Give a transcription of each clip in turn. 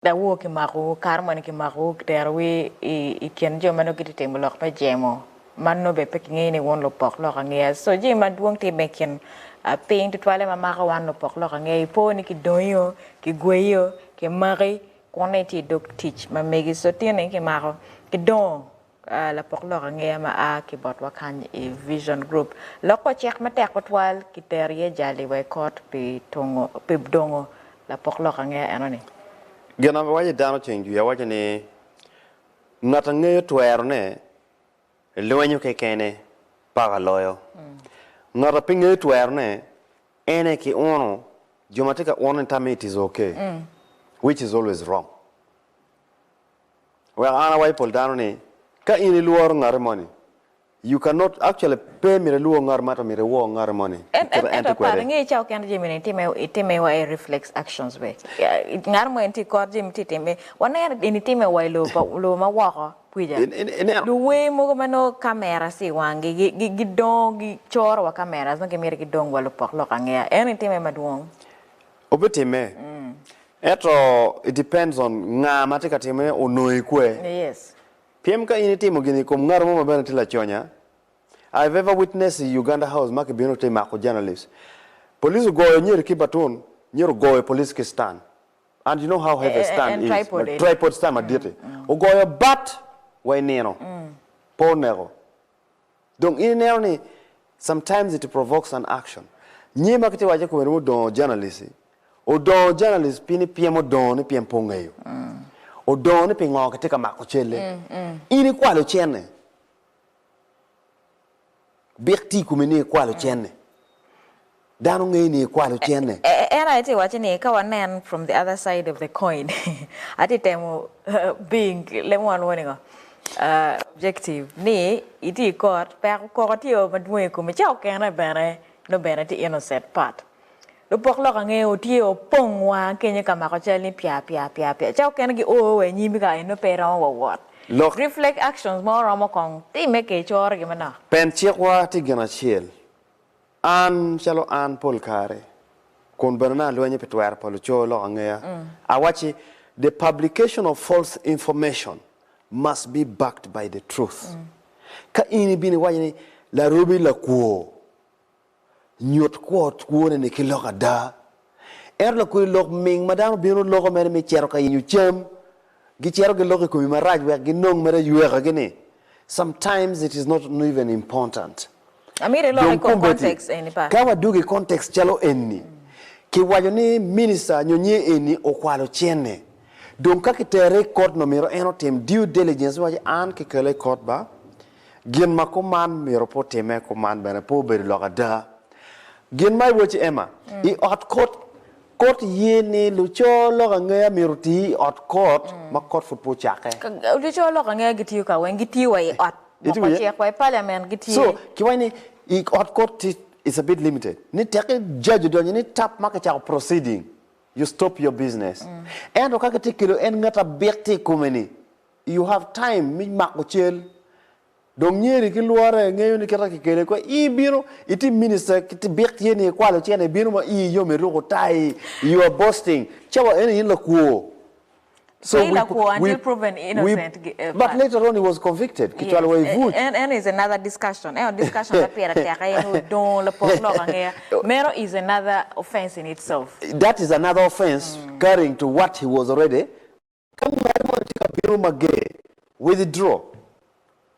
Dawoor kimakowu, kare moni kimakowu, kiterowu i kin jo ma nongo gitye ka timo lok me jemo, ma nongo bene pe kingeyo ni wun lupok lok angeya. So, jami madwong tye bene i kin piny tutwalle ma mako wan lupok lok angeya. Ipo ni kidongio, kigweyio, kimaki, kunni tye i dog tic ma megi. So, tinni kimako, kidongo. Lapok lok angeya ma a ki botwa kany i Vision Group loko ocek matek tutwal ki tero iye jali wa i kot pi tungo, pi dongo lapok lok angeya enoni. Gin ma biwaco i dano ceng jwi awaca ni, Ngat a ngeyo twero ne, lwenyo kekene paka loyo. Ngat a pe ngeyo twero ne, en aye ki uno, jo ma tye ka uno ni tammi it is okay, which is always wrong. Wek an awai pol dano ni, ka in ilworo ngati moni, you can not, actually pe myero ilwor ngati man to myero iwor ngati moni En, kit en, ma en ento tye par, kwede. inge cawa kene jami ni itime, itime wa i reflex actions be. Ya, i- Ngat mo en tye ikor jami tye itime, waneno in itime wa i lobo pa, lobo ma woko kwica. In- in- ineno? Luwer mogo ma nongo cameras tye i wanggi, gi, gi, gidongo, gicoro wa cameras nongo gimito gidong wa lupok lok angeya. En itime madwong. Obitimme. Ento it depends on nga ma tye ka time onongo i kwe. Pyem ka in itimo gini i kom ngato mo ma bene tye laconya. I have ever witness i Uganda House ma kibino te mako journalist. Police ogoyo Nyeri ki batun, Nyeri ogoyo police ki stand. And you know how heavy a stand is, tripod stand madit-ti. Ogoyo bat wa i nino pe oneko. Dong in ineno ni sometimes it provokes an action. Nyi ma kitye waco kome romo dongo journalist i. Odongo journalist pi ni pyem odongo ni pyem pe ongeyo. Odongo ni pingo kitye ka mako celle. In ikwalo cenne. Bik tye i kome ni ikwalo cenne. Dano ngei ni ikwalo cene. En aye tye waco ni ka wanen from the other side of the coin atye temo being lemo one warning o objective ni itye i court peko koko tye o madwong i kome ca okene bene nongo bene tye innocent part lupok lok ange o tye o pong wa kenyo ka mako cal ni pya pya pya pya ca okene gi o wa inyim ka eno pe iromo wa wot Lok. reflect actions mo romo kong time ke icoro gi manok. Pen cik wa tye gin acel. An, calo an pol kare, kun bene nongo alwenyo pi twero pa luco lok angeya, awacci, The publication of false information must be backed by the truth. Ka in ibino iwaco ni Larobi lakwo, nyut kwo kwone-ni ki lok ada Ento lakuli lok ming ma dano bino loko mere me cito ka yenyo cam, gicito giloko i komi marac wek ginong mere aywekagi ni, Sometimes it is not even important. Amito iloka i kom context eni pa. Ka wadwogo i context calo eni, kiwaco ni minister nyo nyi eni okwalo cene. Dong ka kitere i kot nongo myero en otim due diligence me waco an kikela i kot ba, Gin ma kuman myero pe otimme, kuman bene pe obedo lok ada. Gin ma iwaco, Emma, i ot kot, kot ye ni luco lok angeya myero oti i ot kot ma kot pud pe ocakke. Luco lok angeya gitiyo ka weng? Gitiyo wa i ot ma pa cik wa, i parliament gitye. So, kiwaco ni i ot kot ti it's a bit limited. Ni tek ki judge odonyo ni tap ma kicako proceeding, you stop your business. Ento ka kitye kelo en ngat abik tye i kome ni, You have time me mako cal. Dong nyeri ki lwore ngeyo ni kite kikele kwe i bino i tim minister kit bik ye ni ikwalo cene i bino ma iyi yom iruko tayi you are boasting cawa eni in lakwo so we we we but later on he was convicted kicwalo wa i buc that is another offense carrying to what he was already Ka ngweri moni tye ka bino mager, withdraw.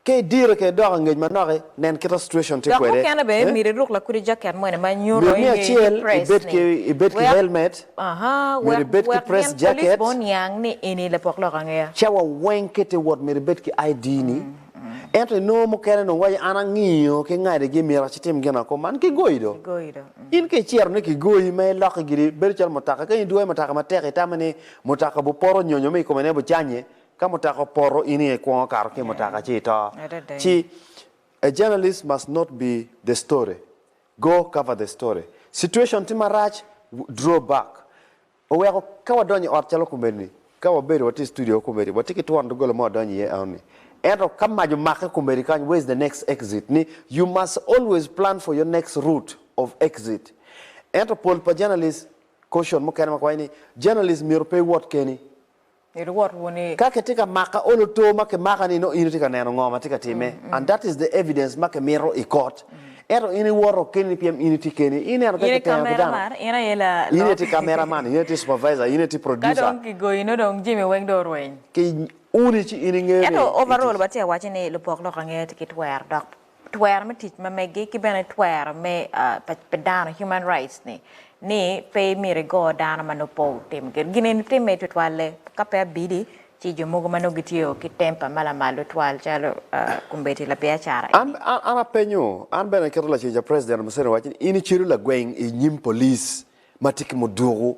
Ka idire ka idok angec manoki, nen kita situation tye Dok kwede. mukene bene Eh? myero iruk lakudi jaket moni ma nyuto Myero ni ni ingeyo ni acel press ibed ni. ki ibed ki Wek, helmet, aha, myero wek, ibed ki wek press gin police jacket. bene oniang ni eni lapok lok angeya. Cawa weng kit i wot myero ibed ki ID ni. Ento inongo mukene onongo waco an angiyo ki ngadi gi myero acitim gin ako man kigoyi do. Kigoyi do. Mm. In ka iciro ni kigoyi ma iloki gidi bedo calo mutaka ka in idwoyo mutaka matek itamo ni Mutoka bu poto nyonyo me i kome ne bu canye, ka mutoka opoto in aye ikwongo kato ki i mutoka ci ito. Adada. Ci A journalist must not be the story, go cover the story. Situation tye marac, draw back. Oweko ka wadonyo i ot calo komedi ni, ka wabedo watye i studio komedi, watye ki twon doggola ma wadonyo iye enoni. Ento ka mac omake komedi kany, where's the next exit ni you must always plan for your next route of exit. Ento pol pa journalist, Caution mukene ma kwayo ni, Journalism myero pe iwot keni. Myero iwot wuni. Ka kitye ka maka olo too ma kimaka ni nongo in itye ka neno ngo ma tye ka timme and that is the evidence ma kimito i kot. Ento in iwoto keni pien in itye keni. Ineno pe kiteno ki dano. In aye la lok. In aye tye camera man, in aye tye supervisor, in aye tye producer. Ka dong kigoyi nongo dong jami weng dong orweny. Ki uni ci in ingeyo ni itye. Ento overall watye ka waco ni lupok lok ange tye ki twero dok twero me tic ma megi ki bene twero me pi dano human rights ni ni pe imyero igo dano ma nongo pe otimo gin gin eni timme tutwalle ka pe abidi ci jo mogo ma nongo gitye o ki temper ma lamal tutwal calo kombeddi labiacara An eni. an an apenyo, an bene aketo lacen ca President Museveni waco ni in icelu lagweng inyim police ma tye ki muduku